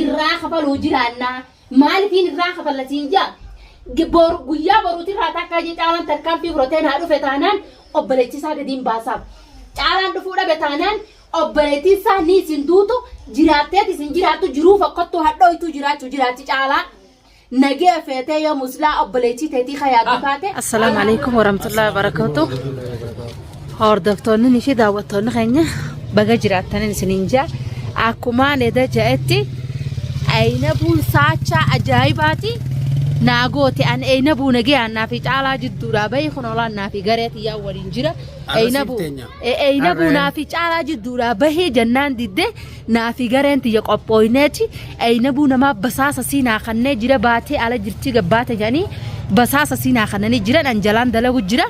irraa kafaluu jiraannaa maalifiin irraa kafalla siin jaa Bor- guyyaa boruuti irraa takkaa jee caalaan tarkaanfii fudhatee naa dhufe taanaan obboleechisaa gadiin baasaaf caalaan dhufuu dhabe taanaan obboleettiin isaa ni isin duutu jiraatteeti isin jiraattu jiruu fokkottuu hadhooytuu jiraachuu jiraatti caalaa Nagee feetee yoo muslaa obboleettii teetii ka yaaddu taate. Assalaamu alaikum warahmatullahi wabarakatuh. Hordoftoonni fi daawwattoonni keenya baga jiraattan isiniin jaa. Akkuma Neda ja'etti ayinabuun saachaa ajaa'ibaati. Naa goote an ayinabuu nagayaan naa fi caalaa jidduudhaa bahi kun olaan naa fi garee tiyyaa waliin jira. Ayinabuu naa fi caalaa jidduudhaa bahi jennaan didde Naa fi gareen tiyya qophooyneeti Eynabuu namaa basaasa sii naa kannee jira baatee ala jirtii gabbaate jedhanii basaasa sii naa kannanii jiran an jalaan dalagu jira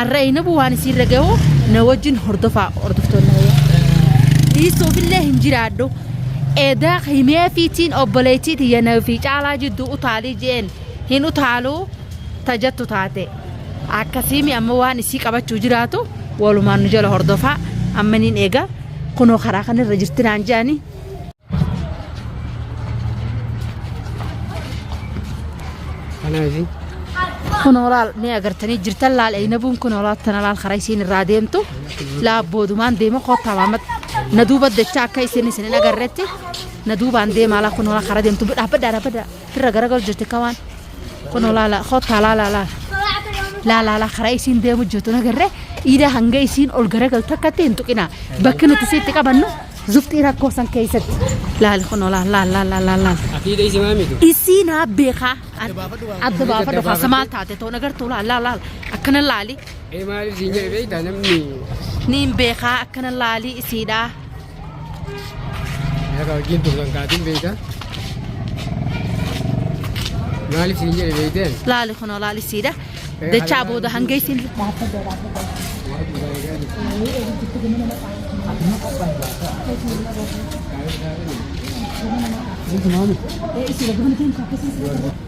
arra Eynabuu waan isii irra gahu na wajjin hordofaa hordoftoonni hayya. dhiisuufillee hin jiraadhu edaa himee fiitiin obboleettii tiyya na fi caalaa jidduu utaalii jeen hin utaaluu tajattu taate akkasiimi amma waan isii qabachuu jiraatu walumaan nu jala hordofaa amma niin eega. kunoo karaa kana irra jirti naan jedhanii. Kanaafi Kunoo laal mee agartanii jirtan laal eeynabuun kunoo laal tana laal karaa isiin irraa deemtu laal boodumaan deema koottaa maamat na duuba dachaa akka isiin isin hin agarretti na duubaan deemaa laal kunoo laal karaa deemtu dhaabbadhaa dhaabbadhaa firra garagal jirti kamaan. Kunoo laala kottaa laala laala. Laala laala karaa isiin deemu jirtu nagarre iidaa hanga isiin ol garagaltu takkatti hin tuqina. Bakki nuti isiitti qabannu zufxii rakkoo san keessatti. Laali kunoo laala laala laala laala laala. Akiida isi maamitu. Isii naa beekaa. Adda baafadhu kaasa maal taate too nagartuu laala laala laala. Akkana laali. Ee maaliif siin jedhe beektaa namni. Niin beekaa akkana laali isiidhaa. Akka wajjin turtan kaatiin beekta. Maaliif siin jedhe beekteen? Laali kunoo laali siidha. Dachaa booda hanga ittiin Thank you.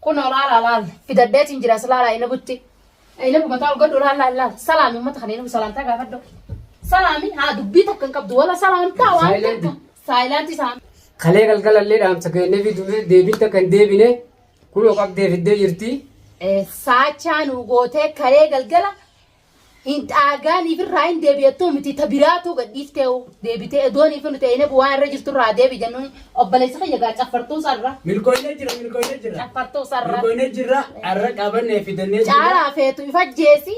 Kunoo laala laal fidadheetiin jira as laala ayinabutti. Ayinabu mataa ol godhu laal laal laal salaami uummata kana ayinabu salaamtaa gaafadhu. Salaami haa dubbii takka hin qabdu wala salaamtaa waan Silent. jettu saayilaantii saami. Kalee galgalallee dhaamsa kennee fi dubbee deebiin takka hin deebine kunoo qabdee fiddee jirti. Eh, Saachaa nu gootee kalee galgala Hin dhaagaaniif irraa hin deebi'attuu miti ta biraatuu gadhiiftee deebitee edoonii fi nuti eeneef waan irra jirtu irraa deebi jennuun obboleessa kiyya gaa caffartuu sarra. Milkooyne jira milkooyne jira. Caffartuu sarra. Milkooyne jira arra qabannee fidannee jira. Caalaa feetu ifa jeesi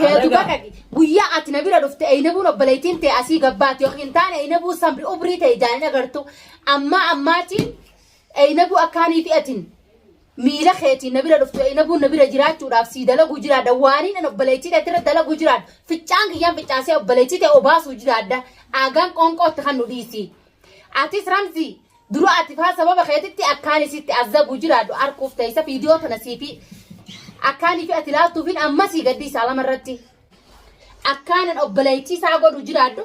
feetu baqaqi guyyaa ati na bira dhufte eynabuun obboleettiin tee asii gabbaati yoo hin taane eynabuu samri ubrii ta'e ijaan hin agartu ammaa ammaatiin eynabuu akkaanii fi'atiin miila keetiin na bira dhuftu eeynabuun na bira jiraachuudhaaf sii dalaguu jiraadha waaniin an obboleettii ta'e irra dalaguu jiraadha ficcaan kiyyaan ficcaasee obboleettii ta'e obaasuu jiraadha aagaan qoonqootti kan nu dhiisi atis ramzii dura ati faa sababa keetitti akkaan isitti azabuu jiraadhu arkuuf ta'isa viidiyoo tana siifi akkaan ifi ati laaltuufin ammasii gaddii isaa lama irratti akkaanan obboleettii isaa godhu jiraadhu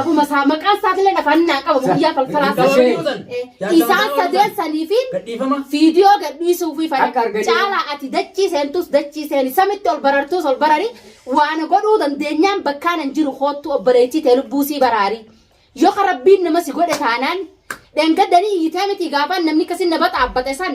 Abuma isaa maqaan isaatiillee afaan hin naan qabamu guyyaa falfalaa Sa- Gabaa yoo san. Eh, Jaarsa isaan mataa ol sadeen san. sanii fi Gadhiifama. fiidiyoo gadhiisuu fi fana Akka arganii- caalaa ati dachii seentus dachii seeni samitti ol barartus ol barari waan godhuu dandeenyaan bakkaan hin jiru koottu obboleettii tee lubbuu sii baraari yoo ka rabbiin nama si godhe taanaan dhengaddanii iyyitee miti gaafaan namni kasin na baxaabbate san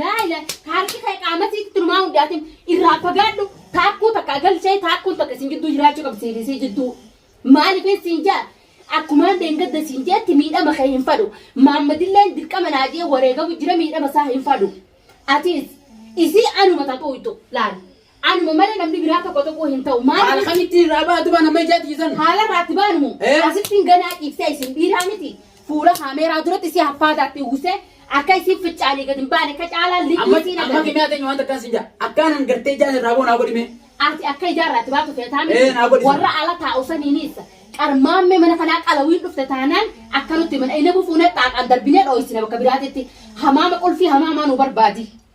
Laayila harki kee qaama sitti turmaa hundaatiin irraa fagaadhu taakkuu takka galchee taakkuu takka isin jidduu jiraachuu qabdi siif isii jidduu. Maaliif siin jaa akkumaan deengadda siin jeetti miidhama kee hin fadhu. Maammadilleen dirqama naa jee wareegamu jira miidhama isaa hin fadhu. Atiis isii anuma tatu ittu laal. Anuma malee namni biraa tokko tuquu hin ta'u. Maaliif? Haala kamittiin irraa baatu baan amma ijaatti isan? Haala irraatti baanu moo? Ee. Asittiin ganaa ciiftee isin dhiiraa miti. Fuula kaameeraa duratti si haffaataatti uwwisee akka isin ficcaalee gad hin baane akka caalaan liqii Amma isiin amma agarre. kimiyaa teenyu waan takkaan sin jaa. Akkaan hin gartee ijaan irraa boo naa godhimee. Ati akka ijaarraatti baatu feetaa Ee, miti. naa godhi. Warra ala taa'u saniinis qarmaammee mana kanaa qalawiin dhufte taanaan akka nutti mana inni bufuunee xaaqaan darbinee dhooysina bakka biraatitti. Hamaama qulfii hamaamaa nu barbaadi.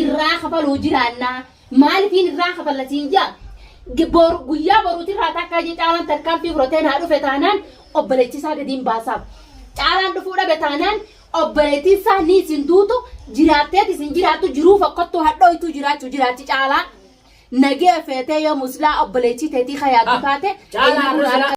irraa kafaluu jiraannaa maalifiin irraa kafalla siin jaa Bor- guyyaa boruutirraa takkaa jee caalaan tarkaanfii fudhatee naa dhufe taanaan obboleettisaa gadiin baasaaf caalaan dhufuu dhabe taanaan obboleettiin isaa ni isin duutu jiraatteet isin jiraattu jiruu fokkottuu hadhooytuu jiraachuu jiraatti caalaa nagee feetee yoo muslaa obboleettii teetii kayaatu taate Caalaa eenyuun irra harka